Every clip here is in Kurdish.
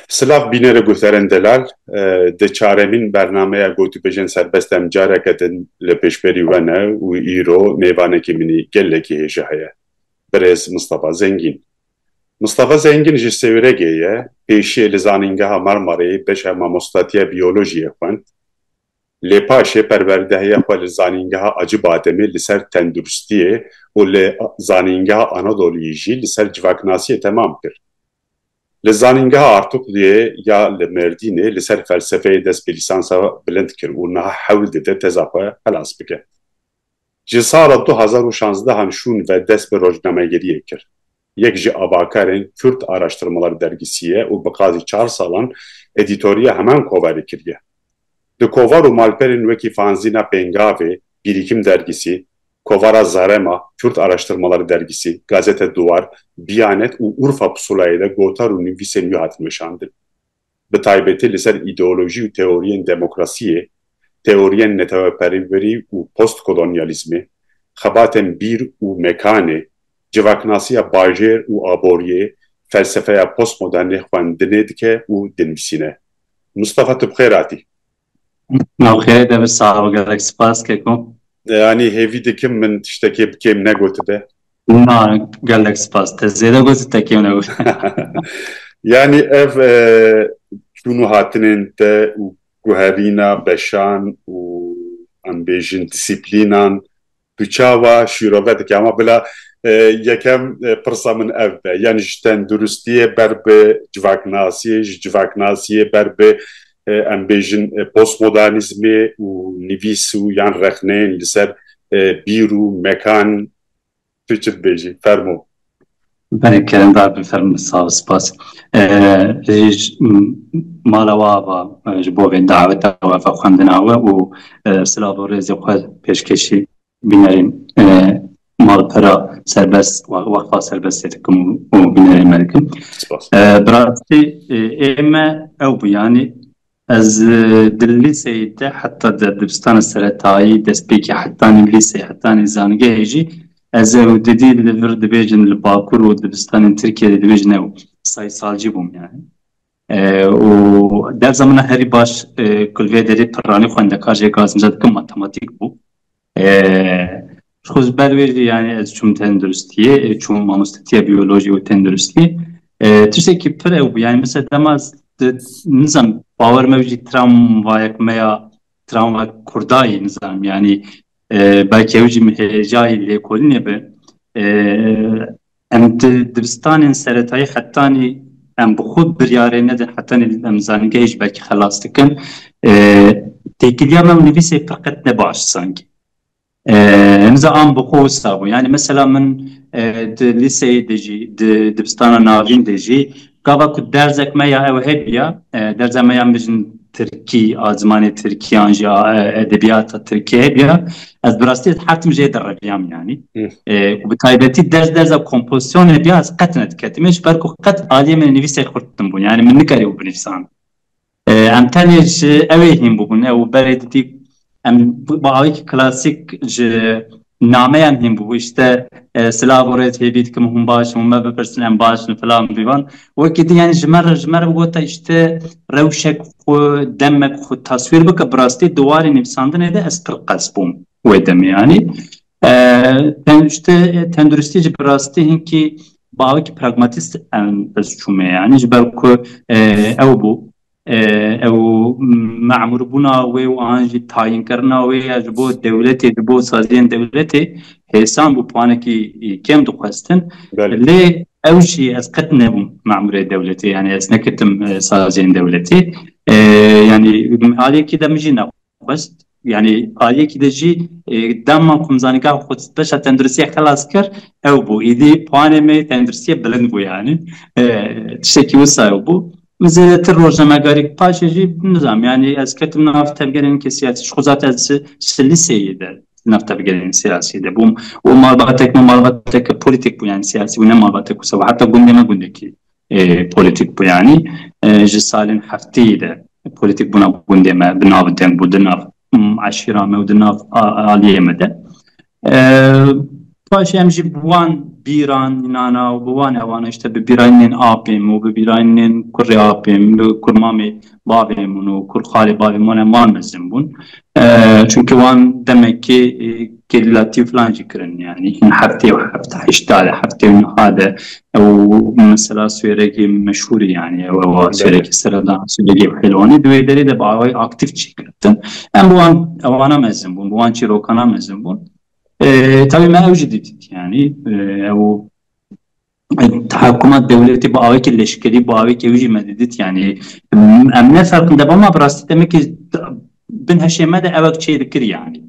Silav bînere Gulteren Delal di çaremîn bernameya Gotûbêjên Serbest em careke din li pêşberî we ne û îro mêvanekî min î gelekî hêja heye, Birêz Mistefa Zengîn. Mistefa Zengîn ji Sêwregê ye, pêşiyê li Zanîngeha Marmareyê beşa Mamostatiya Biyolojiyê xwend, Lê paşê perwerdehiya xwe li Zanîngeha Acibademê li ser tenduristiyê û li Zanîngeha Anadoluyê jî li ser civaknasiyê temam kir. Li Zanîngeha Artukluyê ya li Mêrdînê li ser felsefeyê dest bi lîsansa bilind kir û niha hewl dide teza xwe xilas bike. Ji sala du hezar û şazdeh an şûn ve dest bi rojnamegeriyê kir. Yek ji avakarên Kurd Araştırmalar Dergisi ye û bi qazî çar salan edîtoriya heman koverê kiriye. Di kovar û malperên wekî fanzîna Pêngavê, Bîrîkim Dergisi, kovara Zarema, Kurd Araştırmalar Dergisi, Gazete Duvar, Biyanet û Urfa Pusulayê de gotar û nivîsên wî hatin weşandin. bi taybetî li ser îdeolojî û teoriyên demokrasiyê, teoriyên neteweperwerî û postkolonyalîzmê, xebatên bîr û mekanê, civaknasiya bajêr û aboriyê, felsefeya postmodernê xwendinê dike û dinivîsîne. Mustafa tu bi xêr hatî. Ok, demir sağ ol gerek spas keko. Yanî hêvî dikim min tiştekê bi kêm negotibe? Na, gelek spas. Te zêde gotî te kêm negotibe. Yanî ev çûn û hatinên te û guherîna beşan û em bêjin disîplînan Tu çawa şîrove dikî? Ama bila yekem pirsa min ev be, yanî ji tenduristiyê ber bi civaknasiyê, ji civaknasiyê ber bi em bêjin postmodanîzmê û nivîs û yan rexneyên li ser bîr û mekan tu çi dibêjî? Fermo. Belê kerindar be ferm be sal spas. Ez ji mala we ava ji bo vê daweta we ve xwendina we û silav û rêzê xwe pêşkêşî bînerên malpera serbest weqfa serbestê dikim û bînerên me dikim. Bi rastî ê me ew bû yanî Ez di lîseyê de heta di dibistana seretayî, destpêkê hetanî lîseyê hetanî zangehê jî ez ew didî li vir dibêjin li bakur û dibistanên Tirkiyeyê de dibêjin ew saysalcî bûm yani. Û derza min a herî baş ku li vê derê pirranî xwendekar jê gazimca dikim matematîk bû. Ji xwe ji ber vê jî yanî ez çûm tenduristiyê, çûm mamostetiya biyolojî û tenduristî. Tiştekî pir ew bû yanî min ser dema nizam bawer me jî tramvayek me ya tramvayek kurdayî nizanim yanî belkî ew jî min hêjayî lêkolînê be. Em di dibistanên seretayî hetanî em bi xwe biryarê nedin, hetanî em zanîngehê ji ber kî xelas dikin. Têkiliya me û nivîsê pir qet ne baş zanî. Hemiza an bi xwe wisa bûn. Yanî mesela min di lîseyê de jî, di dibistana navîn de jî, Gava ku derzek me ya ew hebiya, derza me ya mijn tirkî a zimanê tirkî an jî a edebiyata tirkî hebiya, ez bi rastî hetim jê derreviyam yanî û bi taybetî derz derza kompozîsyon hebiya ez qet nediketime ji ber ku qet aliyê min ê nivîsek xurt din bûn yanî min nikeribû binivîsan. Em tenê ji ew ê hîn bûbûn ew berê didî em bi awayekî klasîk ji nameyan hîn bûbû ji te silav û rêz hêvî dikim hûn baş in hûn me bipirsin em baş in filan bîvan wekî din yanî ji me re ji me re bigota ji te rewşek xwe demek xwe taswîr bike bi rastî di warê nivîsandinê de ez pir qels bûm wê demê yanî Pêncte tenduristî jî bi rastî hinkî bawekî pragmatîst em ez çûme yanî ji ber ku ew bû ew memûrbûna wê û an jî tayînkirina wê ya ji bo dewletê ji bo saziyên dewletê hêsan bû piwanekî kêm dixwestin lê ew jî ez qet nebûm memûrê dewletê yanî ez neketim saziyên dewletê yanî aliyekî de min jî Xwest yanî aliyekî de jî dema ku min zanî ka xwe di beşa tenduristiyê xelas kir ew bû. Îdî planê me tenduristiyê bilind bû yanî. Tiştekî wisa ew bû. Min zêdetir rojnamegarî paşê jî nizanim yanî ez ketim nav tevgerên wekî siyasî ji xwe zat ez ji lîseyê de li nav tevgerên siyasî de bûm û malbatek me malbatek polîtîk bû yanî siyasî bû ne malbatek wisa bû heta gundê me gundekî politik bû yanî ji salên hefteyê de politik bûna gundê me bi nav deng bû di nav eşîra me û di nav aliyê me de paşê em jî bi wan bîran nana û bi wan ewana îşte bi bîranên apê min û bi bîranên kurê apê min bi kurmamê bavê min û kurxalê bavê min e wan mezin bûn. Çunke wan demekê kêdlatî û filan jî kirin yanî hin heftê û heft heşta de heftê û niha de ew mesela swêrekê meşhûrî yanî ew ew a swêrekê seredan swêrekê pelwanê di wê derê de bi awayî aktîf çêkirtin. Em bi wan ewana mezin bûn bi wan çîrokana mezin bûn. Tevî me ew jî didît yanî ew Tahakuma dewletê bi awayekî leşkerî, bi awayekî wî jî me didît yanî em ne ferqin de bama bi rastî demekî bin heşê me de ewek çê dikir yanî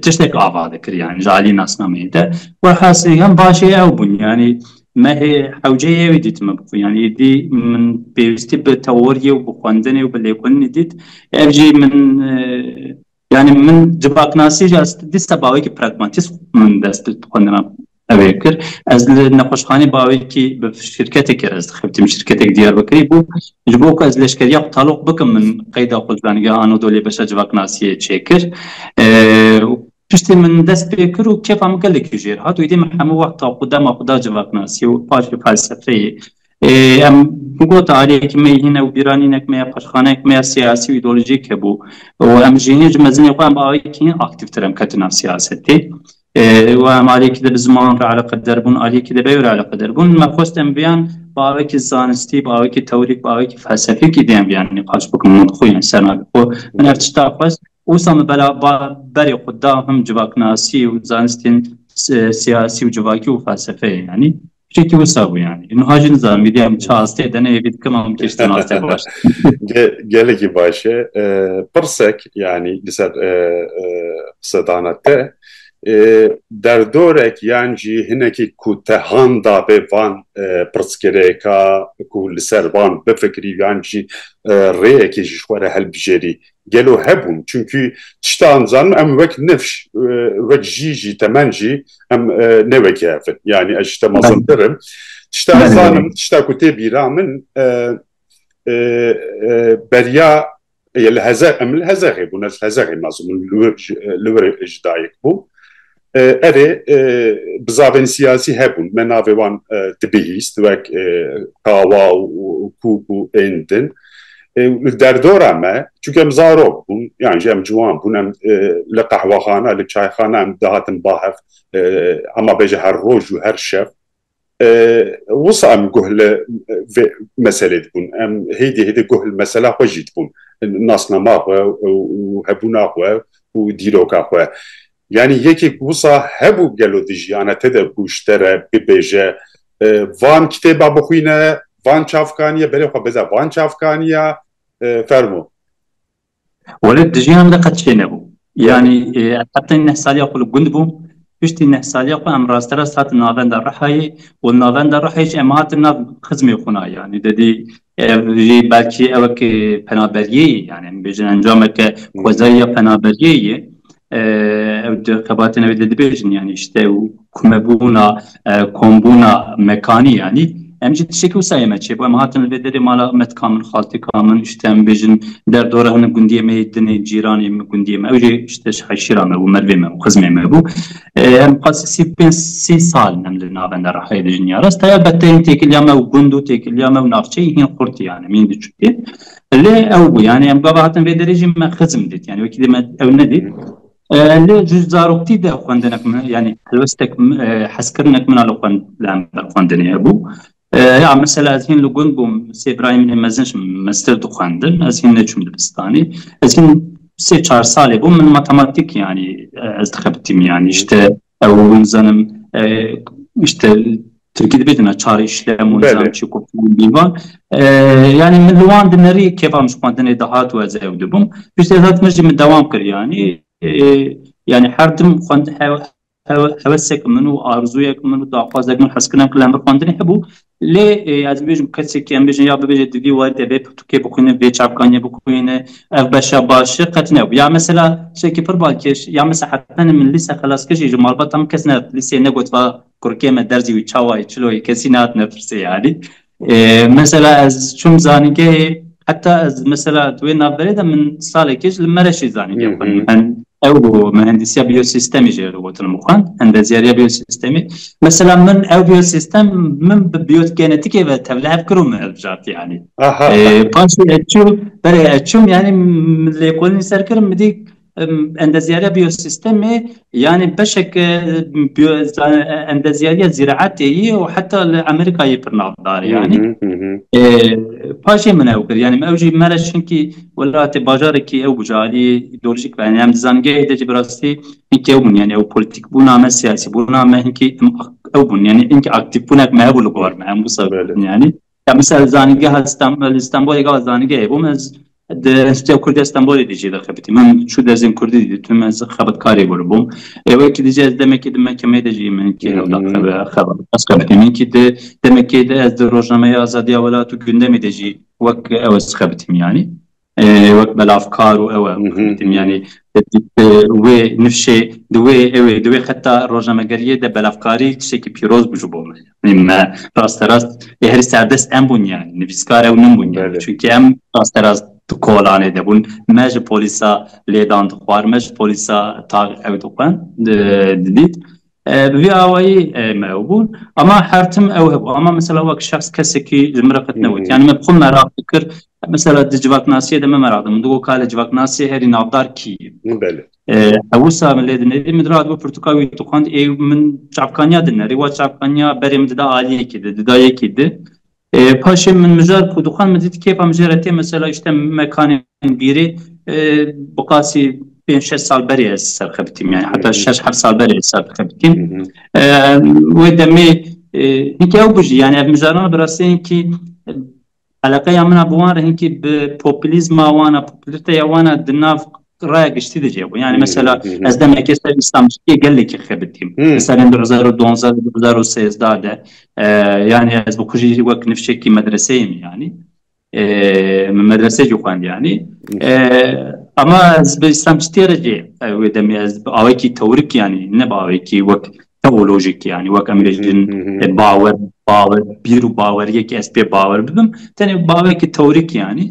tiştek ava dikir yanî ji aliyê nasnameyê de welhasil hem başê ew bûn yanî me hê hewceyê wî dît me bixwe yanî êdî min pêwîstî bi teoriyê û bi xwendinê û bi lêkolînê dît ev jî min Yani min civaknasî jî ez dîsa bawekî pragmatîst min dest bi xwendina ev ê kir. Ez li nexweşxanê bawekî bi şîrketekê re ez dixebitîm, şîrketekî Diyarbekirî bû. Ji bo ku ez leşkeriya xwe taloq bikim min qeyda xwe li Danigeha Anadoliyê beşa civaknasiyê çêkir. Piştî min dest pê kir û kêfa min gelekî jêr hat û îdî min hemû wexta xwe dema xwe da civaknasiyê û paşê felsefeyê Em gota aliyekî me yê hîn e û bîranînek me ya paşxaneyek me ya siyasî û îdeolojîk hebû û em ji hê ji mezinê xwe em aliyekî hîn aktîvtir em ketin nav siyasetê û em aliyekî de bi ziman re eleqeder bûn aliyekî de bi ew re eleqeder bûn me xwest em viyan bi awayekî zanistî bi awayekî tewrîk bi awayekî felsefîkî dê em viyan nîqaş bikin û xwe yên ser navê xwe min ev tişta xwest wisa min bela berê xwe da him civaknasî û zanistên siyasî û civakî û felsefeyê yanî Şekî wisa bû yani. Niha jî nizanim vîdya min çi astê dene yê vî dikema min kêştin astê baş. Gelekî baş e. Pirsek yani li ser qsedana te derdorek yan jî hinekî ku te han dabê van pirsgirêka ku li ser van bifikrî yan jî rêyekê ji xwe re hilbijêrî gelo hebûn çimkî tişta em zanim em wek nifş wek jî jî temen jî em ne wekî hevin yanî ez ji te mezin birim tişta ez zanim tişta ku tê bîra min beriya li heze em li hezexê bûn ez hezexê mezin li wir ji dayik bû Erê, bizavên siyasî hebûn, me navê wan dibihîst wek Kawa û Kûk û ên din. Li derdora me, çunke em zarok bûn, yan jî em ciwan bûn, em li qehwexana, li çayxana em dihatin bahev, hema bêje her roj û her şev, Wisa em guh li vê meselê dibûn. Em hêdî hêdî guh li mesela xwe jî dibûn. Nasnama xwe û hebûna xwe û dîroka xwe. Yanî yekê ku wisa hebû gelo di jiyana te de ku ji te re bibêje van kitêba bixwîne, van çavkaniya berê xwe bide van çavkaniya fermo. Wele di jiyan de qet çê nebû. Yanî heta neh saliya xwe li gund bûm. Piştî neh saliya xwe em rasterast hatin navenda Rihayê û navenda Rihayê jî em hatin nav xizmê xwe na. Yanî dedî ev jî belkî ew weke penaberiyê ye. Yanî em bêjin encameke xwezayî ya penaberiyê ye. Ew di xebatên ew dibêjin yanî ji te û komebûna kombûna mekanî yanî em jî tiştekî wisa yê me çêbû em hatin li vê derê mala metka min xalteka min ji te em bêjin derdora hinek gundiyê me yê dinê cîranê min gundiyê me ew jî ji te ji heşîra me bû merivê me bû xizmê me bû em qasî sî pênc sî sal em li navenda rehayê dijin ya rast heya beteyên têkiliya me û gund û têkiliya me û navçeyê hîn xurt yani em hîn diçûkê lê ew bû yani em gava hatin vê derê jî me xizm dît yani wekî dê me ew nedît Lê ji zaroktî de xwendinek min yanî helwestek hezkirinek min a li xwendinê hebû. Ya mesela ez hîn li gund bûm sê birayê min ê mezin ji min meztir dixwendin ez hîn neçûm dibistanê. Ez hîn sê çar salê bûm min matematîk yanî ez dixebitîm yanî ji te Ew nizanim işte Tirkî dibêjin çar işlem û nizam çi ku bîvan. Yanî min li wan dinirî kêfa min ji xwendinê dihat û ez ew dibûm. Piştî ez hat min jî min dewam kir yanî yanî her tim xwendin hewesek min û arzûyek min û daxwazek min hezkirin em li hember xwendinê hebû Lê ez dibêjim kesekî em bêjin ya bibêje di vî werdê vê pirtûkê bixwîne vê çavkaniyê bixwîne ev beşa baş e qet nebû. Ya mesela tiştekî pir balkêş ya mesela hetanî min lîse xelas kir jî ji malbata min kes nehat lîseyê negot va kurikê me derzî wî çawa ye çilo ye kesî nehatine pirsê yanî. Mesela ez çûm zanîngehê heta ez mesela di wê navberê de min salekê ji li Mereşê zanîngeh xwend. Ew mihendisiya biyosîstemî jê re gotin min xwend, endezyariya biyosîstemî. Mesela min ew biyosîstem min bi biyogenetikê ve tevli hev kir û min hilbijart yanî. Paşê ez çûm, berê ez çûm yanî min lêkolînî ser kir min dît endezyariya biyosîstemê yanî beşeke endezyariya zîraetê yê û heta li Amerîkayê pir navdar e yanî. Paşê min ew kir yanî ew jî me re çinkî Welatê bajarekî ew bijarî îdeolojîk be. Em di zanîngehê de jî bi rastî hinkî ew bûn. Yanî ew polîtîkbûna me, siyasîbûna me hinkî ew bûn. Yanî hinkî aktîvbûnek me hebû li gor me. Em wisa bibin yanî. Ya misal li zanîngeha li Stenbolê gava zanîngehê bûm ez di Enstîtuya Kurdî ya Stenbolê de jî dixebitîm. Min çû dersên kurdî jî ditim. Ez xebatkarê bûr bûm. Ê wekî de jî ez demekî di mekemeyê de jî min hinkî hewl da xebat. Ez xebitîm. Hinkî di demekê de ez di Rojnameya Azadiya Welat û Gundemê de jî Wek ew ez dixebitim yanî wek belavkar û ew e dixebitim yanî wê nifşê di wê ew ê di wê xeta rojnamegeriyê de belavkarî tiştekî pîroz bû ji bo me yanî me rasterast ê herî serdest em bûn yanî nivîskar ew min bûn yanî çunkî em rasterast di kolanê de bûn me ji polîsa lêdan dixwar me ji polîsa tar ew dixwend didît Bi vî awayî me ew bûn ama her tim ew hebû ama mesela wek şexs kesekî ji min re qet newt yanî me bi xwe meraq dikir mesela di civaknasiyê de me meraq dikin digo ka li civaknasiyê herî navdar kî ye hewisa min lê dinêrî min diratibû pirtûka wî dixwend ê min çavkaniya dinerî wa çavkaniya berê min dida aliyekî di dida yekî di Paşê min mijar ku dixwend min dît kêfa min jê re tê mesela îşte mekanên bîrê bi qasî pênc şeş sal berê ez serxebitîm yani heta şeş heft sal berê ez serxebitîm wê demê hinkî ew bijî yani ev mijaran bi rastî hinkî eleqeya min a bi wan re hinkî bi populîzma wan a populîteya wan a di nav raya giştî de cêbû yani mesela ez demekê ser îslamcîtiyê gelekî xebitîm li serên du hezar û duwazdeh du hezar û sêzdeh de yani ez bi xwe jî wek nifşekî medreseyê min yanî min medresê jî xwend yanî ema ez bi îslamcîtiyê re jî wê demê ez bi awayekî tewrik yanî ne bi awayekî wek teolojik yani wek em bêjin bawer bawer bîr û baweriyekî ez pê bawer bibim tenê bawekî tewrîk yanî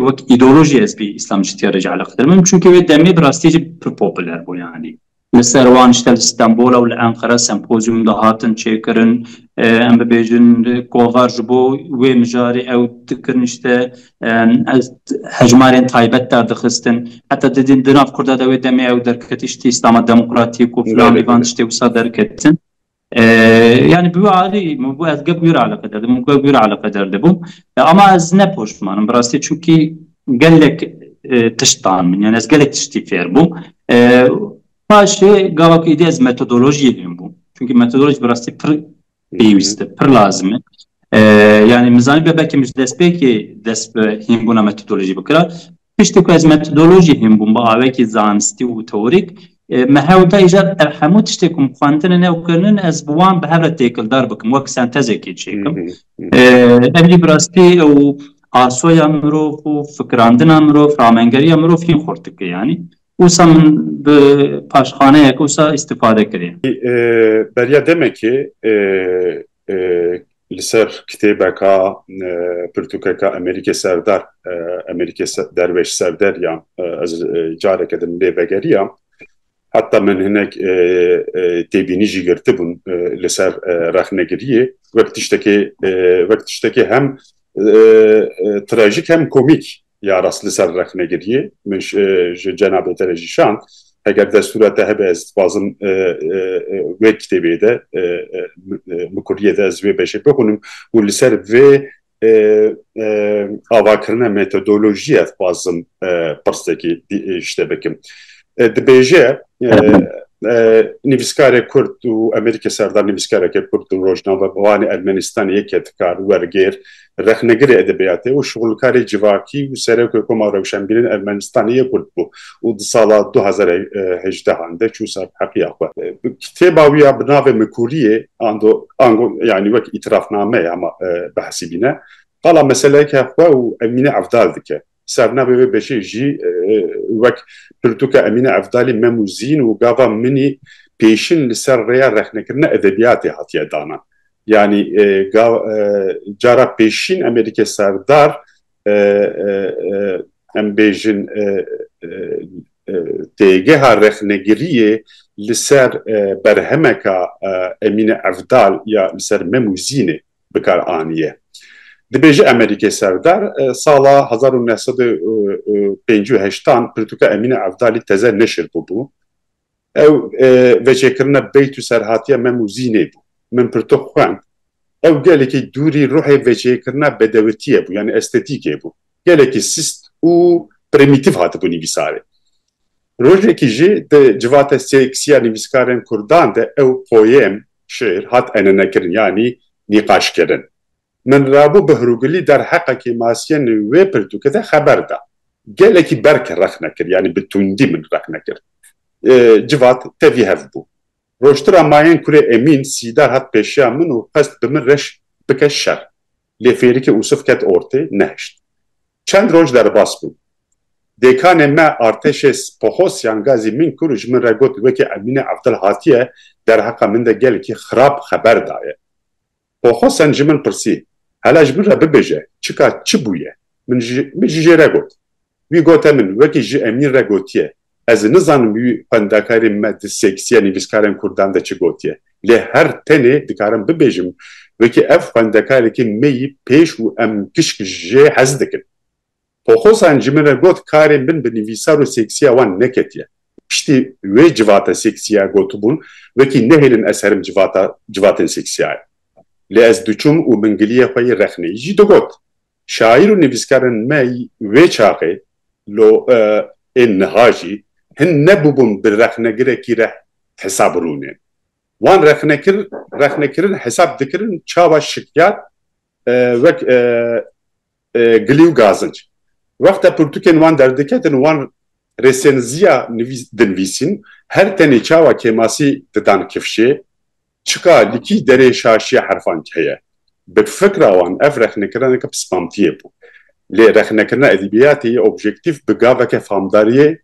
wek îdeolojî ez pê îslamcîtiya re jî eleqtir bim çunke wê demê bi rastî jî pir popûler bû yanî li ser wan işte li Stenbola û li Enqere sempozyûm de hatin çêkirin em bibêjin kovar ji bo wê mijarê ew dikirin işte hejmarên taybet derdixistin heta didin di nav Kurda de wê demê ew derketiş tê Îslama Demokratîk û filan vî van tiştê wisa derketin yani bi wî alî min got ez gek wî re eleqe der dibûm gek wî re eleqe der dibûm ama ez ne poşmanim bi rastî çunkî gelek tiştan min yani ez gelek tiştî fêr bûm paşê gava ku êdî ez metodolojiyê fêr bûm çunkî metodolojî bi rastî pir pêwîst e, pir lazim e. Yani min zanî belkî min ji destpêkê dest bi hînbûna metodolojî bikira. Piştî ku ez metodolojî hînbûm bi awekî zanistî û teorîk me hewl da îcar ev hemû tiştê ku min xwendine ne û kirinin ez bi wan bi hev re têkildar bikim wek sentezekê çêkim. Ev jî bi rastî ew asoya mirov û fikirandina mirov, ramengeriya mirov hîn xurt dike yanî. Wisa min bi paşxaneyek wisa îstîfade kiriye. Beriya demekê li ser kitêbeka pirtûkeka Emerîkê Serdar, Emerîkê Derweş Serder ya ez careke din lê vegeriya. Heta min hinek têbînî jî girtibûn li ser rexnegiriyê. Wek tiştekê wek tiştekê hem trajîk hem komîk Ya rast li ser rexnegiriyê min ji cenabê te re jî şand. Heger destûra te hebe ez dixwazim wê kitêbê de bi kurdiyê de ez vê beşê bixwînim û li ser vê avakirina metodolojiyê dixwazim pirsekî ji te bikim. Dibêje nivîskarê kurd û Amerîkê serdar nivîskareke kurd û rojnamevanê Ermenîstanê yeke dikar wergêr rexnegirê edebiyatê û şixulkarê civakî û Serokê Koma Rewşenbîrên Ermenistanê yê Kurd bû û di sala du hezar û hejdeh an de çû ser heqiya xwe. Kitêba wî ya bi navê Mikuriyê ando ango yanî wek îtirafname ya ma behsî bîne, qala meseleke xwe û Emîne Evdal dike. Sernavê vê beşê jî wek Pirtûka Emîne Evdalî Mem û Zîn û Gava Minî pêşin li ser rêya rexnekirina edebiyatê hatiye dana. Yanî cara pêşîn em ê dike serdar em bêjin têgeha rexnegiriyê li ser berhemeka Emîne Evdal ya li ser Mem û Zînê. bi kar aniye. Dibêje Emerîkê Serdar sala hezar û neh sed û pêncî û heştan pirtûka Emîne Evdalî teze neşir bûbû. Ew veçêkirina beyt û serhatiya Mem û Zînê bû. Min pirtûk xwend. Ew gelekî dûrî ruhê veçêkirina bedewitiyê bû yanî estetîkê bû. Gelekî sist û primîtîv hatibû nivîsarê. Rojekî jî di civata sêksî ya nivîskarên kurdan de ew poyêm, şêr, hat enenekirin yanî nîqaşkirin. Min Rabû Behrûgulî derheqa kêmasiyên wê pirtûkê de xeber da. Gelekî berk rexne kir yanî bi tundî min rexne kir. Civat tevî hev bû. Rojtira mayên kurê Emîn Sîdar hat pêşiya min û xwest bi min reş bike şer. Lê fêrikê Ûsif ket ortê, nehişt. Çend roj derbas bûm. Dêkanê me artêşê Spohosyan ga zî min kir û ji min re got wekî Emîne Evdil hatiye derheqa min de gelekî xirab xeber daye. Pohosyan ji min pirsî, Hela ji min re bibêje, çika çi bûye? Min jî jê re got. Wî gote min wekî ji Emîn re gotiye, Ez nizanim wî xwendekarê me di seksiya nivîskarên kurdan de çi gotiye. Lê her tenê dikarim bibêjim wekî ev xwendekarekî me yî pêş û em kişk jê hez dikin. Poxozan ji min re got karê min bi nivîsar û seksiya wan neketiye. Piştî wê civata seksiya gotibûn wekî nehêlin ez serim civata civatên seksiya ye. Lê ez diçûm û mingiliyê xwe yê rexneyî jî digot. Şaîr û nivîskarên me wê çaxê lo ê niha jî hin nebûbûn bi rexnegirekî re hesab rûnê. Wan rexnekir rexnekirin hesab dikirin çawa şikyar wek gilî û gazinc. Wexta pirtûkên wan derdiketin wan rêsênziya dinvîsîn her tenê çawa kêmasî didan kifşê Çika li kî derê şaşiya herfankî heye? Bi fikra wan ev rexnekirineke pismantiyê bû. Lê rexnekirina edebiyatê yê objektîf bi gaveke famdariyê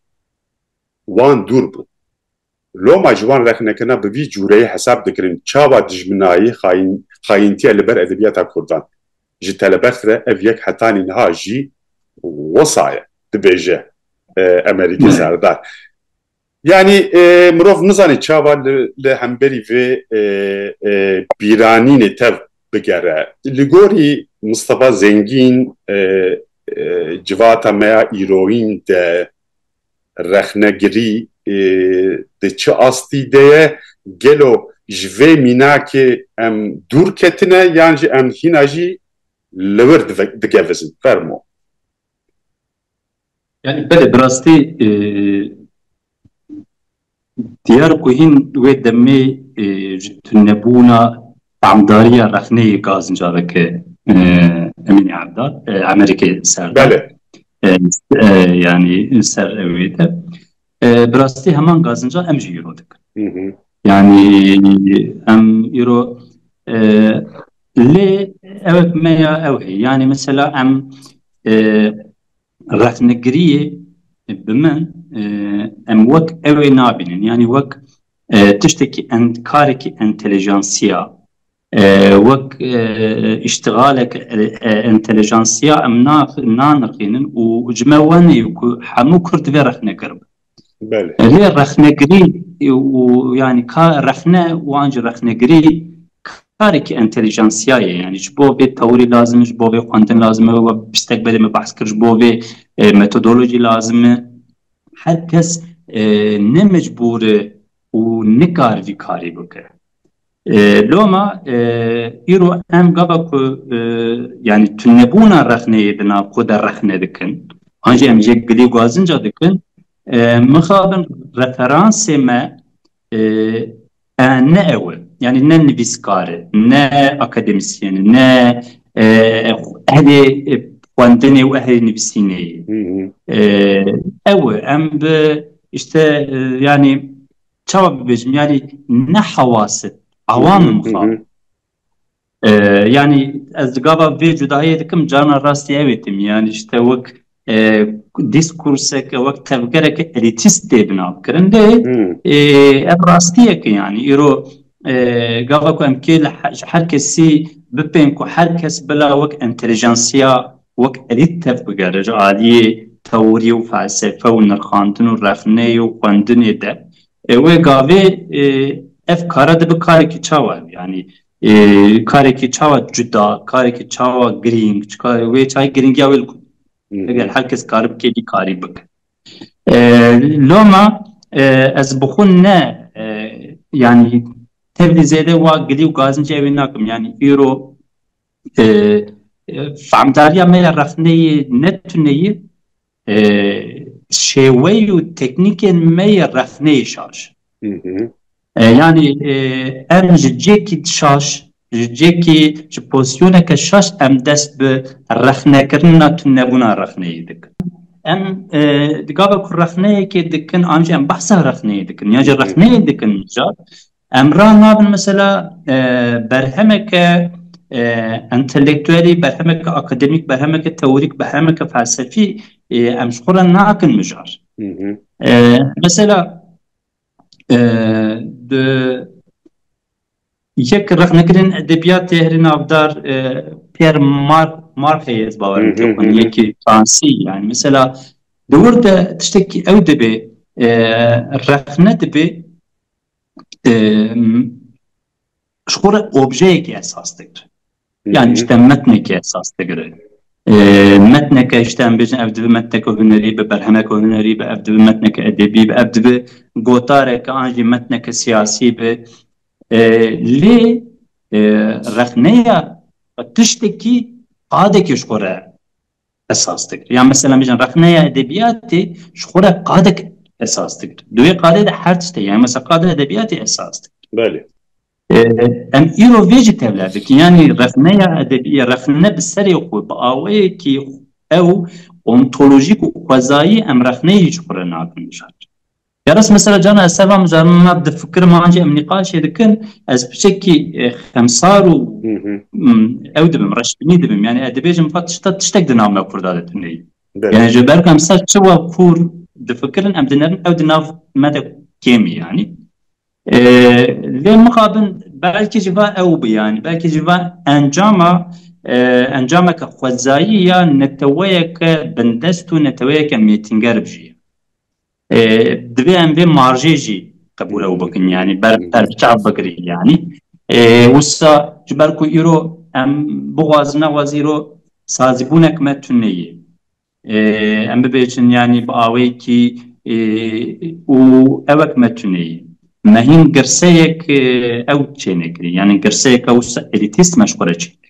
wan dûr bû. Loma ji wan rexnekirina bi vî cûreyê hesab dikirin çawa dijminayî, xayintiya li ber edebiyata kurdan. Ji telebext re ev yek hetanî niha jî wisa ye. Dibêje Emerîkê Serdar. Yanî mirov nizane çawa li hemberî vê bîranînê tev bigere. Li gorî Mistefa Zengîn civata me ya îroyîn de rexnegirî di çi astî de ye? Gelo ji vê mînakê em dûr ketine yan jî em hîna jî li wir digevizin? Fermo. Yanî belê bi rastî diyar ku hîn wê demê ji tunebûna tamdariya rexneyê gazin careke Emînî Erdal Emerîkê ser da. Belê. Yanî ser wê de. Bi rastî heman gazinca em jî îro dikin. Yanî em îro lê ew me ya ew heye. Yanî mesela em rexnegiriyê bi min em wek ew ê nabînin. Yanî wek tiştekî kareke entelijansiya Wek îştixalek entelijansiya em nanirxînin û ji me wenê ku hemû kurd divê rexnekir bin. Lê rexnekirî û yanî ka rexne û an jî rexnekirî karekî entelijansiya ye. Yanî ji bo vê tewirî lazim e, ji bo vê xwendin lazim e, wek pistek belê me behs kir ji bo vê metodolojî lazim e. Her kes ne mecbûr e û nikar vî karî bike. Loma îro em gava ku yanî tunebûna rexneyê di nav xwe de rexne dikin an jî em jê gilî gwazinca dikin mixabin referansê me ne ew e yanî ne nivîskar e ne akademîsyen e ne ehlê xwendinê û ehlê nivîsînê ye ew e em bi îşte yanî çawa bibêjim yanî ne hewasib ewamin xwe yanî ez di gava vê cudayê dikim carna rastî ew ê tim yanî ji te wek dîskurseke wek tevgereke elîtîst tê binavkirin lê ev rastiyeke yanî îro gava ku em kê ji her kesî bipên ku her kes bila wek entelijansiya wek elît tev bigere ji aliyê tewirî û felsefe û nirxandin û rexneyê û xwendinê de wê gavê ev kara dibe karekî çawa yanî karekî çawa cuda karekî çawa girîng wê çayê girîngiya wê li ku eger her kes kari bike vî karî bike loma ez bi xwe ne yanî tevlî zêde wa gilî û gazincê ew ê nakim yanî îro Feamdariya me ya rexneyê ne tune ye, şêweyê û teknîkên me yê rexneyê şaş e. Yanî em ji cihekî şaş, ji cihekî, ji pozîsyoneke şaş em dest bi rexnekirina tunebûna rexneyê dikin. Em di gava ku rexneyekê dikin an jî em behsa rexneyê dikin yan jî rexneyê dikin mijara Em ra nabin mesela berhemeke entelektuelî, berhemeke akademîk, berhemeke teorîk, berhemeke felsefî em ji xwe re nakin mijar. Mesela di yek rexnekirên edebiyatê herî navdar Pierre Marxê ez bawer dikim xwîn yekî fransî yanî mesela di wir de tiştekî ew dibê rexne dibê ji xwe re objeyekê esas digire. Yanî ji te metnekê esas digire. Metneke ji te em bêjin ev dibe metneke hunerî be, berhemeke hunerî be, ev dibe metneke edebî be, ev dibe gotareke an jî metneke siyasî be. Lê rexneya tiştekî qadekê ji xwe re esas dikir. Ya mesela mejin rexneya edebiyatê ji xwe re qadek esas dikir. Duê qadê de her tiştê yani mesela qade edebiyatê esas dikir. Belê. Em îro vê jî tevla dikin yanî rexneya edebiyê rexne bi serê xwe bi awayekî ew ontolojîk û xwezayî em rexneyê ji xwe re nakin mijar. Ya rast me sere cana ez ser van mijar min ma difikirim an jî em nîqaşê dikin ez piçekî xemsar û ew dibim reşbînî dibim yanî ez dibêjim ka tişta tiştek di nav me kurda de tuneyî yanî ji ber ku em ser çi wa kûr difikirin em dinerin ew di nav me de kêmî yanî lê mixabin belkî jî va ew bi yanî belkî jî va encama encameke xwezayî ya neteweyeke bindest û neteweyeke mêtînger bijî Divê em vê marjê jî qebûl ew bikin yanî ber berbiçav bikirî yanî wisa ji ber ku îro em bixwazin nexwazî îro sazîbûnek me tune ye em bibêjin yanî bi awêkî û ewek me tune ye me hîn girseyek ew çênekirî yanî girseyek ew elîtîst me ji xwe re çênekirî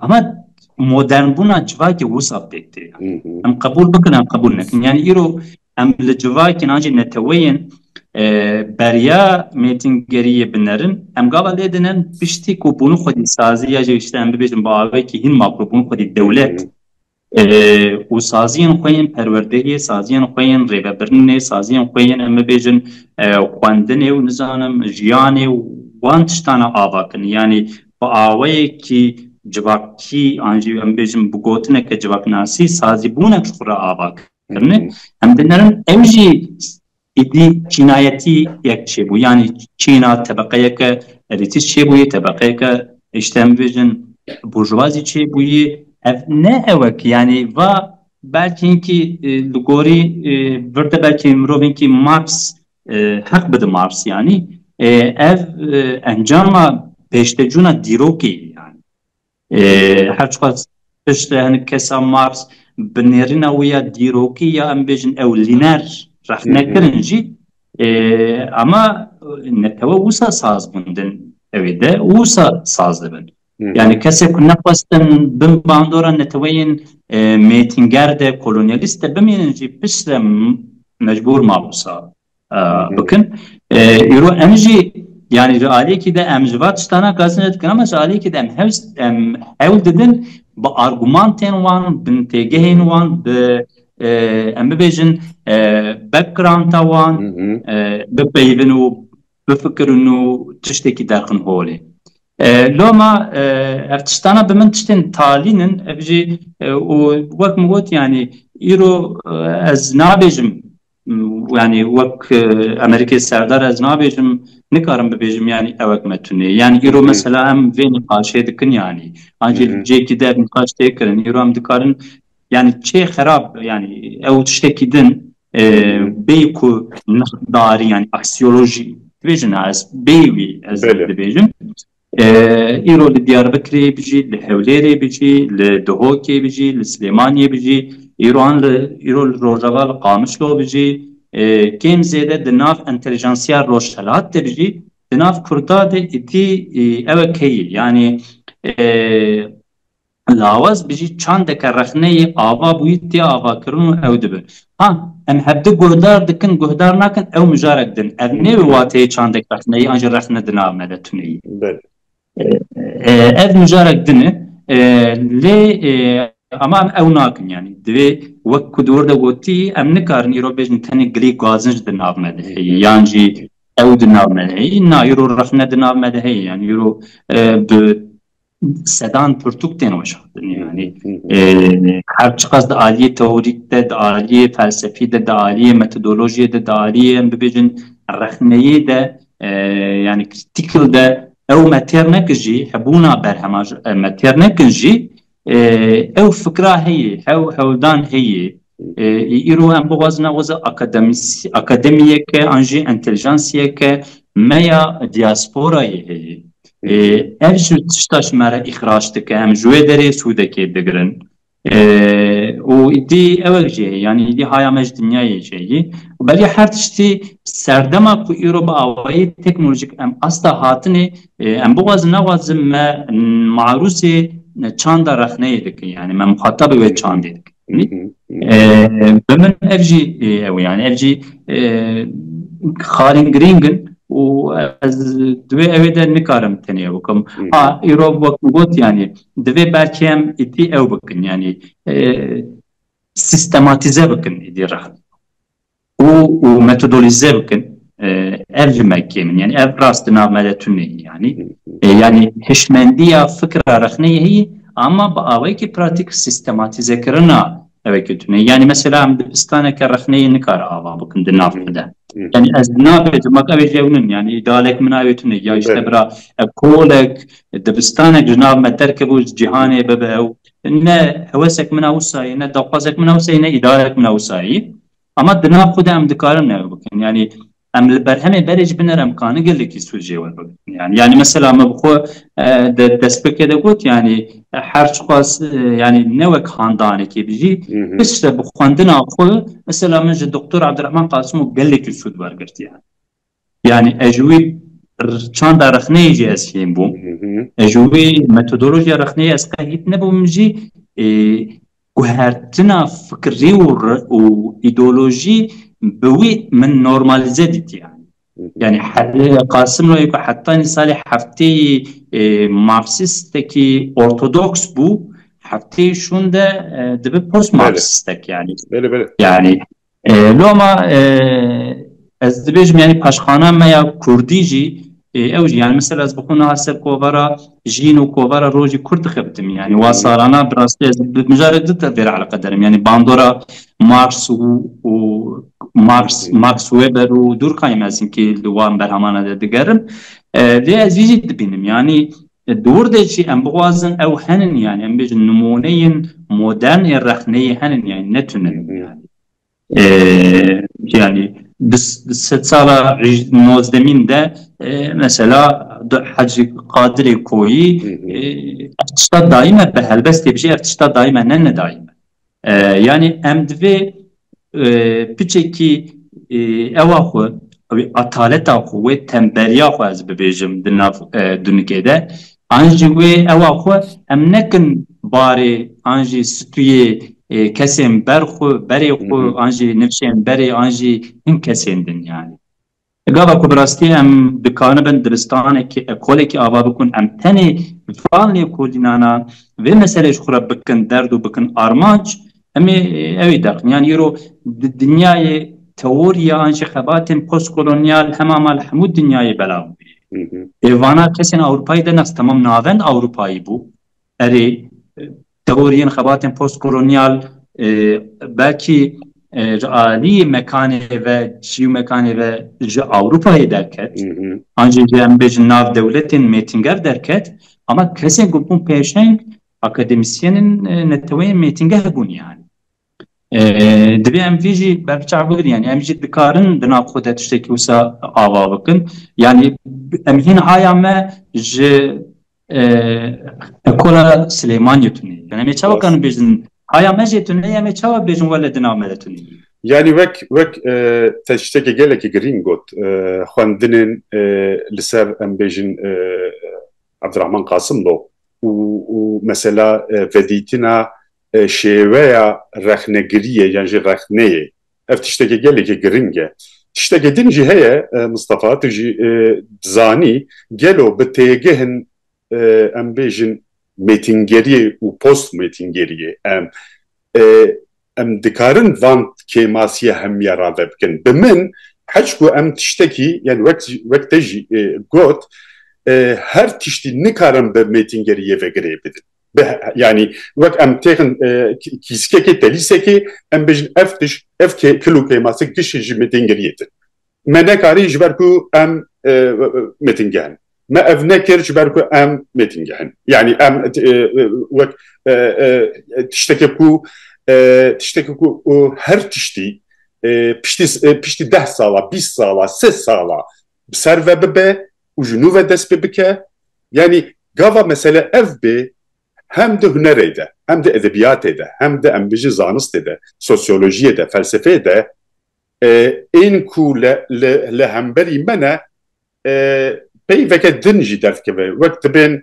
Ama modernbûna civakê wisa pêk tê. Em qebûl bikin em qebûl nekin. Yani îro em li civakên an jî neteweyên beriya mêtingeriyê binerin. Em gava lê dinin piştî ku bûnû xwedî sazî ya jî îşte em bibêjin bi awayekî hîn makro bûnû xwedî dewlet û saziyên xwe yên perwerdeyê, saziyên xwe yên rêvebirinê, saziyên xwe yên em bibêjin xwendinê û nizanim jiyanê û wan tiştan e ava kin. Yanî bi awayekî civakî an jî em bêjin bi gotineke civaknasî sazîbûnek ji xwe re ava kirine. Em dê nerin ew jî Êdî çînayetî yek çêbû yanî çîna tebeqeyeke elîtîst çêbûyê, tebeqeyeke ji te em bêjin burjwazî çêbûyê. Ev ne ewe ki yanî va belkî hinkî li gorî vir de belkî mirovinkî Marx heq bide Marx yanî ev encama pêştecûna dîrokê ye yanî. Her çiqas piştre hinek kesan Mars bi nêrîna wî ya dîrokî ya em bêjin ewlîner rexne kirin jî ama netewe wisa saz bûn din evê de û wisa saz dibin. Yani kesê ku nexwestin bin bandora neteweyên mêtînger de kolonyalîst de bimînin jî piştre mecbûr ma wisa bikin. Îro em jî yanî ji aliyekî de em ji van tiştana kasin re dikin ama ji aliyekî de em hews em hewl didin bi argumantên wan bi têgehên wan bi em bibêjin backgrounda wan bipeyivin û bifikirin û tiştekî derxin holê. Loma ev tiştana bi min tiştên talîn in ev jî û wek min got yanî îro ez nabêjim yani wek Amerîkê serdar ez nabêjim nikarim bibêjim yanî ewek me tunê yanî îro mesela em vê nîqaşê dikin yanî ancî cêkî der nîqaş tê kirin îro em dikarin yanî çê xerab yanî ew tiştekî din bê ku nexdarî yanî aksiyolojî dibêjin ez bê wî ez dibêjim Îro li Diyarbikirê bijî, li Hewlêrê bijî, li Dihokê bijî, li Silêmaniyê bijî, îro li Rojava li Qamişlo bijî, kêm zêde di nav entelijansiya Rojhelat de bijî, di nav Kurda de îtî ew e keyî. Yanî Lawaz bijî çandeke rexneyê ava bûyî tê avakirin û ew dibe. Ha, em hevdu guhdar dikin, guhdar nakin ew mijarek din. Ev nê bi wateyê çandek rexneyî an jî rexne di nav me de tuneyî. Belê. Ev mijarek din e. Lê ama em ew nakin yanî. Divê wek ku di wir de gotî em nikarin îro bêjin tenê gilî gazinc di nav me de heye yan jî ew di nav me de heye. Na îro rexne di nav me de heye yanî îro bi Sedan pirtûk tên weşandin yanî her çiqas di aliyê teorîk de, di aliyê felsefî de, di aliyê metodolojiyê de, di aliyê em bibêjin rexneyê de yanî critical de ew me têr nekin jî hebûna berhema me têr nekin jî ew fikra heye, ew hewldan heye Îro em bixwazin weza akademîyeke an jî entelijansîyeke me ya dîyasporayê heye. Ev ji tişta ji me re îxrac dike, em ji wê derê sûdekê digirin. Û îdî ew jî heye yanî îdî haya me ji dinyayê jî heye. Belê her tiştî serdema ku îro bi awayî teknolojîk em asta hatinê, em bixwazin nexwazin me marûzê çanda rexneyê dikin yanî me muxatabê wê çandê dikin. Bi min ev jî ew e yanî ev jî xalên girîng in û ez di wê evê de nikarim tenê ew bikim. Ha îro wek min got yanî divê belkî em îtî ew bikin yanî sîstematîze bikin êdî rehat. û û metodolîze bikin ev li me kêm in yanî ev rast di nav me de tune ye yanî yanî hişmendiya fikra rexneyê heye ama bi awayekî pratîk sîstematîzekirina ew eke tune ye yanî mesela em dibistaneke rexneyê nikare ava bikin di nav me de yanî ez nabêjim mak ew ê ji ew nin yanî idalek min ew ê tune ye ya îşte bira ev kolek dibistanek ji nav me derkebû ji cîhanê bibe ew Ne hewesek min a wisa ye, ne daxwazek min a wisa ye, ne îdarek min a wisa ye. Ama di nav xwe de em dikarin ew bikin. Yanî em li berhemê berê jî biner em karin gelekî sûc jê we bikin. Yanî yanî mesela me bi xwe di destpêkê de got yanî her çiqas yanî ne wek handanekê bi jî piştre bi xwendina xwe mesela min ji Doktor Abdirehman Qasimo gelekî sûd wergirtiye. Yani ez ji wî çanda rexneyê jî ez fêm bûm. Ez ji wî metodolojiya rexneyê ez qe hît nebûm jî guhertina fikirî û îdeolojî bi wî min normalize dîtî yani. Yani Qasim Loyê ku heta nî salê hefteyî marksistekî ortodoks bû, hefteyî şûn de dibe post marksistek yani. Yani Loma ez dibêjim yanî paşxana me ya kurdî jî ew jî yanî misal ez bi xwe niha ser kovara jîn û kovara rojî kurd dixebitim yanî wa salana bi rastî ez mijarek du tevdê re eleqe derim yanî bandora Mars û û Mars Max Weber û Durkheim ez hinkî li wan berhemana de digerim lê ez jî dibînim yanî Di wir de jî em bixwazin ew henin yanî em bêjin nimûneyên modern ê rexneyê henin yanî ne tune yanî di sed sala nozdemîn de mesela Hacî Qadirê Koyî ev tişta dayîme bi helbestê bijî ev tişta dayîme ne nedayîme. Yanî em divê piçekî ewa xwe, wê ataleta xwe, wê tembeliya xwe ez bibêjim di nav dunikê de an jî wê ewa xwe em nekin barê an jî situyê kesên ber xwe, berê xwe an jî nifşên berê an jî hin kesên din yanî. Gava ku bi rastî em dikaribin dibistanekî, ekolekî ava bikin, em tenê van lêkolînana vê meseleyê ji xwe re bikin derd û bikin armanc, em ê ew ê deqin. Yan îro di dinyayê teorîya an jî xebatên postkolonyal hema mal hemû dinyayê belav bûye. Ê vana kesên Ewropayî de nas temam navend Ewropayî bû. Erê Teoriyên xebatên post-kolonyal belkî ji aliyê mekanê ve çî û mekanê ve ji Ewropayê derket an jî ji em bêjin nav dewletên mêtinger derket ama kesên ku bûn pêşeng akademisyenên neteweyên mêtingeh bûn yani. Divê em vê jî berbiçav bikin yanî em jî dikarin di nav xwe de tiştekî wisa ava bikin yanî em hîn haya me ji ekola Silêmaniyê tune ye. Em ê çawa karin bêjin haya me jê tune ye em ê çawa bêjin wele di nav me de tune ye. Yanî wek wek te ji tiştekî gelekî girîng got xwendinên li ser em bêjin Abdirehman Qasim bo û û mesela vedîtina Şêweya rexnegiriyê yan jî rexneyê ev tiştekî gelekî giring e. Tiştekî din jî heye Mistefa tu jî dizanî gelo bi têgihn em bêjin mêtingeriyê û post mêtingeriyê em em dikarin van kêmasiya hemiya rave bikin. Bi min heç ku em tiştekî yan wek wek te jî got her tiştî nikarin bi mêtingeriyê ve girê bidin. yani wek em têxin kîzkekê telîsekê em bijin ev tiş ev kilo kêmasik tişê ji mêtingiriyê din me nekarî ji ber ku em mêtingehin me ev nekir ji ber ku em mêtingehin yani em wek tiştekê ku tiştekê ku her tiştî piştî piştî deh sala bîst sala sê sala bi ser ve bibe û ji nû ve dest pê bike. Yanî gava mesele ev bê hem di hunerê de, hem di edebiyatê de, hem di em bijin zanistê de, sosyolojiyê de, felsefeyê de ên ku li hemberî me ne peyveke din jî derdikeve. Wek dibên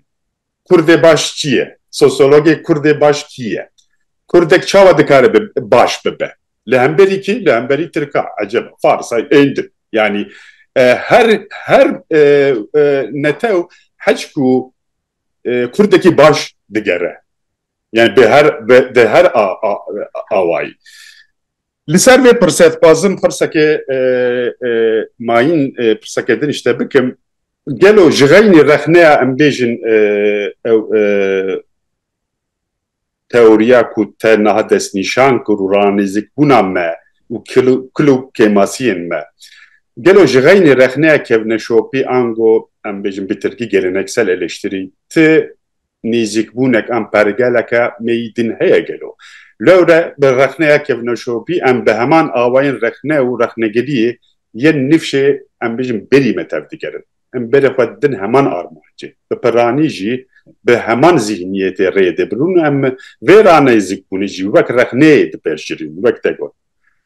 Kurdê baş çi ye? Sosyologê Kurdê baş kî ye? Kurdek çawa dikare bi baş bibe? Li hemberî kî? Li hemberî Tirka, Eceba, Fars, hay êndi. Yanî her her netew heçk û Kurdekî baş digere. Yani bi her bi her awayî. Li ser vê pirsê dixwazim pirsekê mayîn pirseke din ji te bikim. Gelo ji xeynî rexneya em bêjin ew teoriya ku te niha destnîşan kir û ranêzikbûna me û kil û kêmasiyên me, gelo ji xeynî rexneya kevneşopî ango em bêjin bi tirkî geleneksel eleştiri ti Nêzîkbûnek an pergeleke meyî din heye gelo? Lewre bi rexneya kevnoşopî em bi heman awayên rexne û rexnegiriyê yên nifşê em bijin berî me tev digerin. Em berê xwe didin heman armancê. Bi piranî jî bi heman zîhniyetê rê dibin û em vê ranêzîkbûnê jî wek rexneyê dipejirîn wek te got.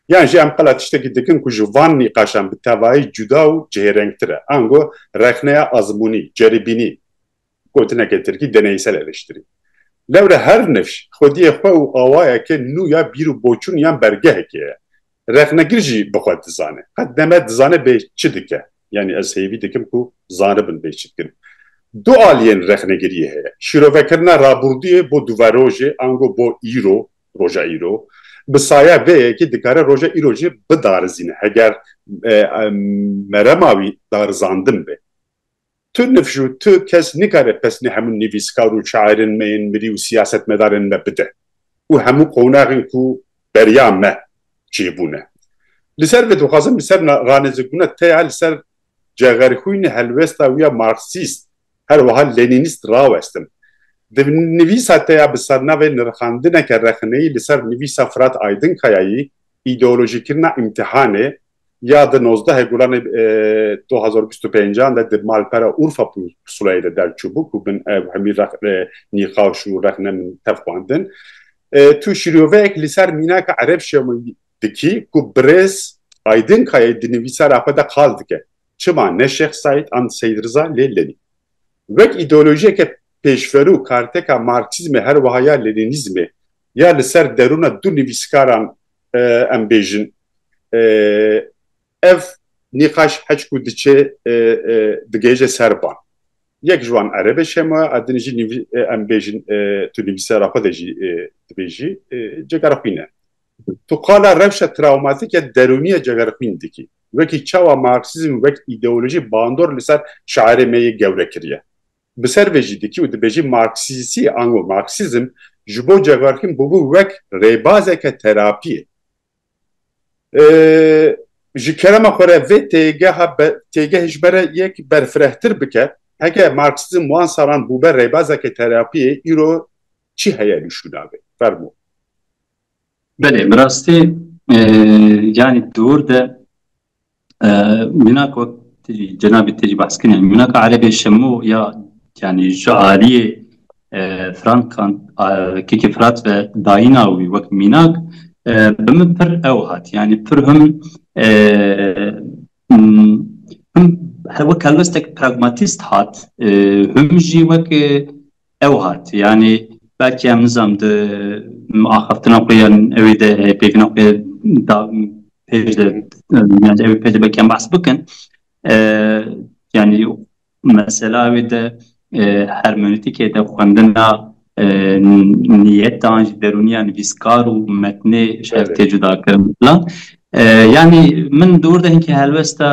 Yan jî em qila tiştekî dikin ku ji van nîqaşan bi tevayî cuda û cihêrengtir e. Ango rexneya azmûnî, ceribînî. Gotineke tirkî deneysel eleştirî. Lewre her nifş xwediyê xwe û awayeke nû ya bîr û boçûn yan bergehekê ye. Rexnegir jî bi xwe dizane. Qet neme dizane bê çi dike. Yanî ez hêvî dikim ku zanibin bê çi dikin. Du aliyên rexnegiriyê heye. Şîrovekirina rabûrdûyê bo duverojê ango bo îro, roja îro. Bi saya vê yekê dikare roja îro jî bidarizîne heger merema wî darizandin be. Tu nifş û tu kes nikare pesnê hemû nivîskar û şairên me yên mirî û siyasetmedarên me bide û hemû qonaxên ku beriya me çêbûne. Li ser vê dixwazim li ser ranêzikbûna te ya li ser cexerxwînê helwesta wî ya marksîst her wiha lenînîst rawestim. Di nivîsa te ya bi sernavê Nirxandineke rexneyî li ser nivîsa Firat Aydinkayayî, Îdeolojîkirina îmtîhanê, ya di nozdehê Gulanê du hezar û bîst û pênc an de di malpera Urfa pusulayê de derçûbû ku bin ew hemî rex nîqaş û rex ne min tev xwendin. Tu şîroveyek li ser mînaka Ereb Şemo dikî ku birêz Aydin Kayayî di nivîsara xwe de qal dike. Çima ne Şêx Seîd an Seîd Riza lê Lenîn. Wek îdeolojiyeke pêşverû karteka Marksîzmê her wiha ya Lenînîzmê ya li ser derûna du nivîskaran em bêjin ev nîqaş heç ku diçe digihêje ser van. Yek ji wan Erebê şema ye, a din jî em bêjin tu nivîsara xwe de jî dibêjî cegerxwîn e. Tu qala rewşa trawmatîk ya derûnî ya cegerxwîn dikî. Wekî çawa Marksîzm wek îdeolojî bandor li ser şairê me yê gewre kiriye. Bi ser vê jî dikî û dibêjî marksîzî ango marksîzm ji bo Cegarkin bûbû wek rêbazeke terapiyê. Ji kerema xwe re vê têgeha têgehê ji me re yek berfirehtir bike, heke marksîzm wan salan bûbe rêbazeke terapiyê îro çi heye li şûna vê? Fermo. Belê, bi rastî yanî dûr de Mînak wek cenabê te jî behs kirî yanî mînaka erebê şemo ya yanî ji aliyê frankan kekê firat ve dayîna wî wek mînak bi min pir ew hat yanî pir him him wek helwestek pragmatîst hat him jî wek Ew hat, yanî belkî em nizam di axaftina xwe yan ewê de pêkina xwe da pêş de yanî ewê pêş de belkî em behs bikin yanî mesela ewê de hermenotîkê de xwendina niyetan jî derûniya nivîskar û metnê şertê cudakirin filan Yanî min di wir de hinkî helwesta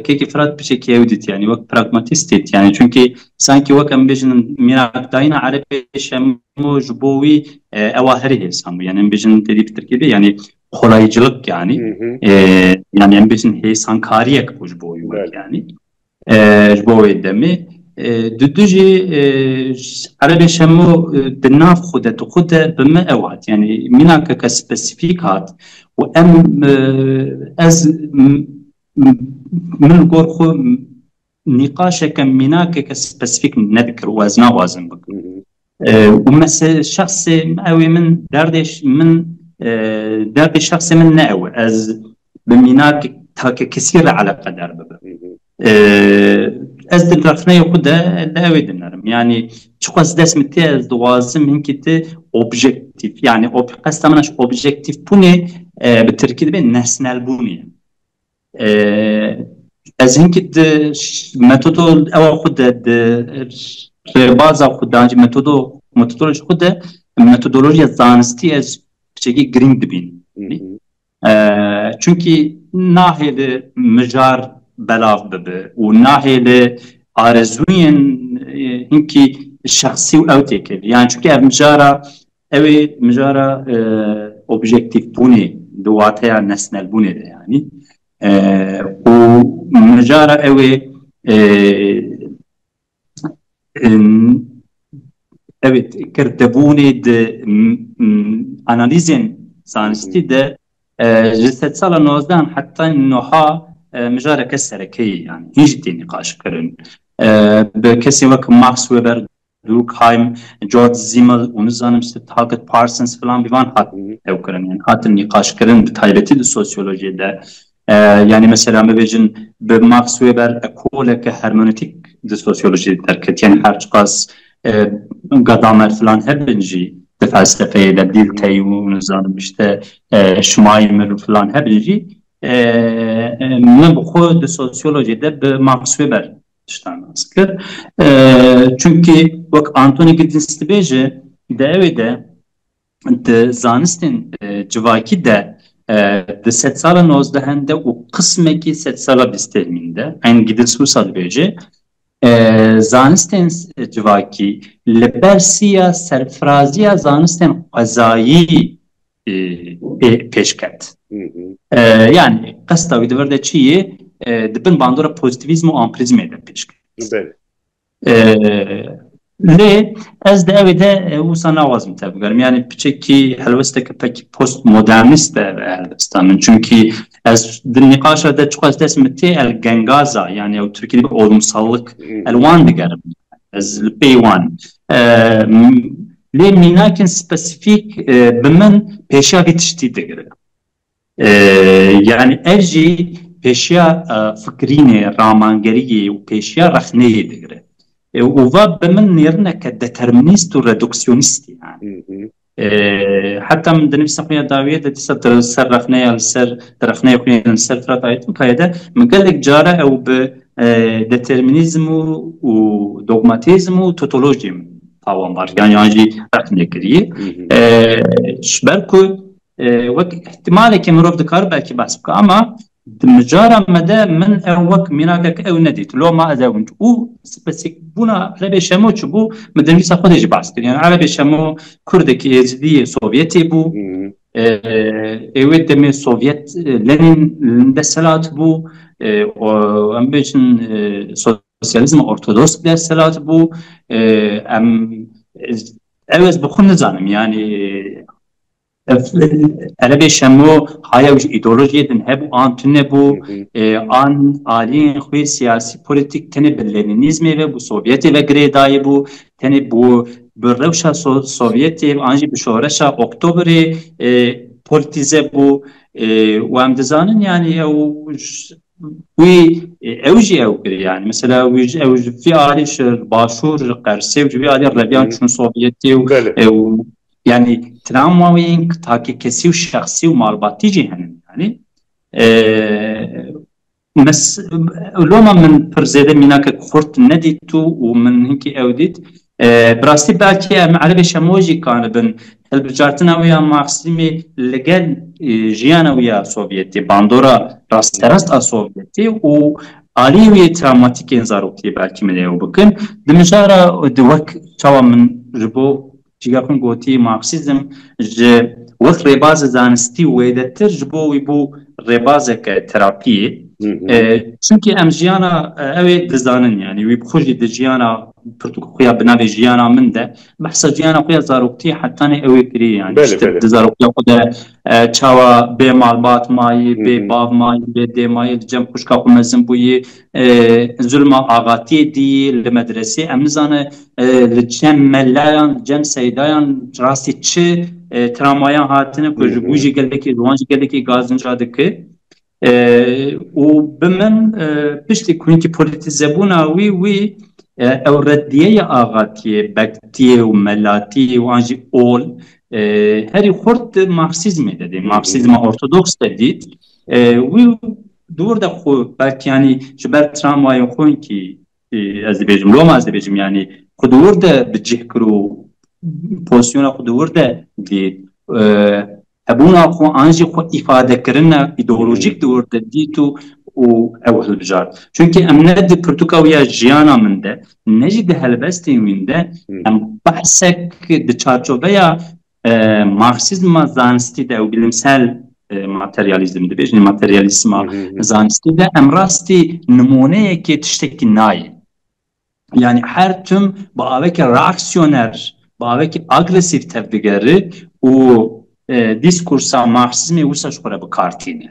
Kêkî Firat piçekî ew dît yanî wek pragmatîst dît yanî çunkî sankî wek em bêjin mîrakdayîna erebê şemo ji bo wî ewa herî hêsan bû yanî em bêjin têdî bi tirkî bê yanî xolayîcilik yanî yanî em bêjin hêsankariyek bû ji bo wî wek yanî Ji bo wê demê di du jî erebê şemo di nav xwe de tu xwe de bi me ew hat yanî mînakeke spesîfîk hat û em ez min li gor xwe nîqaşeke mînakeke spesîfîk nedikir û ez naxwazim bikim. Û mese şexsê ew ê min derdê min derdê şexsê min ne ew e. Ez bi mînak takekesî re eleqedar bibim. Ez di rexneyê xwe de li ew ê dinerim. Yanî çiqas dest min tê ez dixwazim hinkî ti objektîf yanî qesta min a ji objektîfbûnê bi tirkî dibê nesnelbûnê ye. Ez hinkî di metodo ewa xwe de di rêbaza xwe de ancî metodo metodoloji xwe de metodolojiya zanistî ez piçekî girîng dibînim. Çunkî nahêle mijar belav bibe û nahêle arezûyên hinkî şexsî û ew têkeve. Yan çunkî ev mijara Ew ê mijara objektîfbûnê di wateya nesnelbûnê de yanî û mijara ew ê ew ê kirdebûnê di analîzên zanistî de ji sedsala nozdehan heta nuha mijareke serekeyî yanî hîn jî tê nîqaşkirin. Bi kesên wek Max Weber Durkheim, George Simmel û nizanim Sitthakit Parsons filan bi van hat hewkirin yan hatin nîqaşkirin bi taybetî di sosyolojiyê de. Yanî mesela bibêjin bi Marx wê ber ekoleke hermenotîk di sosyolojiyê de derket yanî her çiqas Gadamer filan hebin jî di felsefeyê de Dilthey û nizanim îşte Schmeimer û filan hebin jî min bi xwe di sosyolojiyê de bi Marx wê ber tiştan nas kir. Çunkî wek Anthony Giddens dibêje di ewê de di zanistên civakî de di sedsala nozdehan de û qismekî sedsala bîstêrmîn de eyn Giddens wisa dibêje zanistên civakî li ber siya serfirazîya zanistên xwezayî pêş ket. Yanî qesta wî di vir de çi yê? Di bin bandora pozîtîvîzm û ampirîzmê de pêş ket. Lê ez di evê de wisa naxwazim tevbigerim. Yanî piçekî helwesteke pekî postmodernîst e ev helwesta min. Çimkî ez di nîqaşa de çiqas destê min tê el gengaza yan ew tirkî dibê olimsallik el wan digerim. Ez li pêyî wan im. Lê mînakên spesîfîk bi min pêşiya vî tiştî digirin. Yanî ev jî pêşiya fikirînê, ramangeriyê û pêşiya rexneyê digirin. Û va bi min nêrineke determinîst û reduksyonîst e. Heta min dinivîsa xwe ya dawiyê de dîsa di ser rexneya li ser di rexneya xwe yên li ser Firat Aytûnkayê de min gelek cara ew bi determinîzm û dogmatîzm û totolojiyê min tawanbariyan yan jî ret nekiriye ji ber ku wek ihtimalekê mirov dikar belkî behs bike ama di micara me de min ew wek mînakek ew nedît loma ez ew û spesîkbûna Erebê Şemo çibû min di nivîsa xwe de jî behs kiriye Erebê Şemo kurdekî êzidî yê Sovyetê bû ê wê demê Sovyet Lenin li dest hilat bû û em bêjin Sosyalizma ortodoks bi desthilat bû. Em ew ez bi xwe nizanim yanî erebê şemo hayew ji îdeolojiyê din hebû an tunebû an aliyên xwe siyasî polîtîk tenê bi lenînîzmê ve bû sovyetê ve girê dayîbû tenê bû bi rewşa sovyetê an jî bi şoreşa oktobrê polîtîze bû û em dizanin yanî ew Wî ew jî ew kir yani mesela wî ji ew ji vî alî ji başûr ji qersê û ji vî alî reviyan çûn Sovyetê û ew yani travma wî takî kesî û şexsî û malbatî jî henin yani loma min pir zêde mînakek xurt nedît û min hinkî ew dît Bi rastî belkî em erebê şemo jî kanibin hilbijartina wê ya Maxîmê li gel jiyana wê ya Sovyetê, bandora rasterast a Sovyetê û aliyê wê yê travmatîk ên zarokiyê belkî min ê ew bikin. Di mijara di wek çawa min ji bo cîgeh xwe gotî Maxîzm ji wek rêbazê zanistî wêdetir ji bo wî bû rêbazeke terapiyê. Çimkî em jiyana ew ê dizanin yanî wî bi xwe jî di jiyana Pirtûk xuya bi navê jiyana min de behsa jiyana xwe ya zaroktiyê hetanê ew ê kirî yanî ji tişt di zarokiya xwe de çawa bê malbat mayî, bê bav mayî, bê dê mayî, di cem xwişka xwe mezin bûyî, zulma axatiyê dîyî li medresê em nizane li cem melayan, li cem seydayan rastî çi tramwayan hatine ku ji bo jî gelekî ji wan jî gelekî gazinca dike. û bi min piştî ku hinkî polîtîzebûna wî wî ew reddiyeya axatiyê, bektiyê û melatiyê û an jî ol herî xurt di marksîzmê de dî, marksîzma ortodoks de dît. Wî dûr de xwe belkî yanî ji ber tramwayên xwe hinkî Ez dibêjim loma ez dibêjim yanî xwe di wir de bi cih kir û pozîsyona xwe di wir de dît hebûna xwe an jî xwe îfadekirina îdeolojîk di wir de dît û û ew hilbijart. Çunkî em ne di pirtûka wî ya jiyana min de ne jî di helbestên wîn de em behsek di çarçoveya Marksîzma zanistî de û bilimsel materyalîzm dibêjin materyalîzma zanistî de em rastî nimoneyekê tiştekî nayê. Yani her tim bi avekî reaksiyoner, bi avekî agresîv tev digeri û dîskursa marksîzmê wisa ji xwe re bi kar tîne.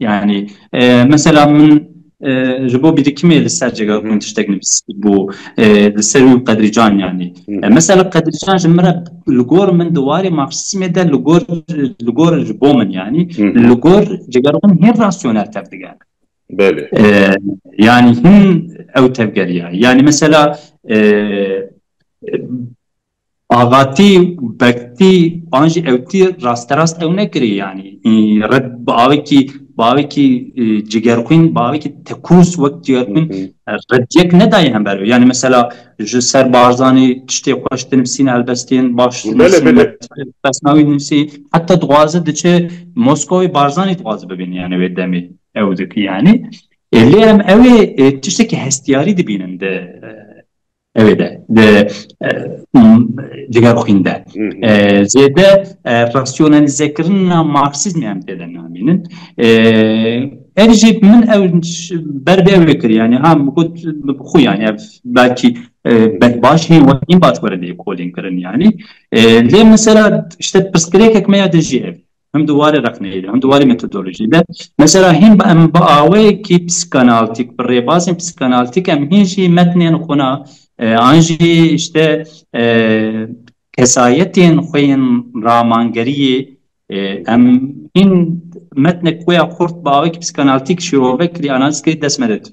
Yanî mesela min ji bo bîrîkimê li ser cega hûn tiştek nivîsîbû li ser wî Qedrîcan yanî mesela Qedrîcan ji min re li gor min di warê Marksîzmê de li gor li gor ji bo min yanî li gor cega hûn hê rasyonel tev digere Belê yanî hûn ew tevgeriya yanî mesela Avatî û bektî an jî ewtî rasterast ew nekirî yanî red bi avêkî bi avêkî cigerxwîn bi avêkî tekûz wek cigerxwîn reddiyek nedayê hember wê yanî mesela ji ser Barzanî tiştê xweş dinivîsîne helbestên baş pesnawî dinivîsî heta dixwaze diçe Moskowê Barzanî dixwaze bibîne yanî wê demê ew dikî yanî lê em ewê tiştekî hestiyarî dibînin di Evet, de diger xwînde zêde rasyonelîzekirina marksîzmê em tê de namînin ev jî min ew ber bê ew kir yanî ha got bi xwe yanî ev belkî baş hê we nî baş were lêkolînkirin yanî lê min sera işte pirsgirêkek me ya de jî ev Him di warê rexneyê de, him di warê metodolojiyê de. Mesela hîn em bi awayekî psîkanaltîk, bi rêbazên psîkanaltîk em hîn jî metnên xwe na an jî îşte kesayetên xwe yên ramangeriyê em hîn metnek xwe ya xurt bi awayekî psîkanaltîk şirove kirî, analiz kirî dest me de tî.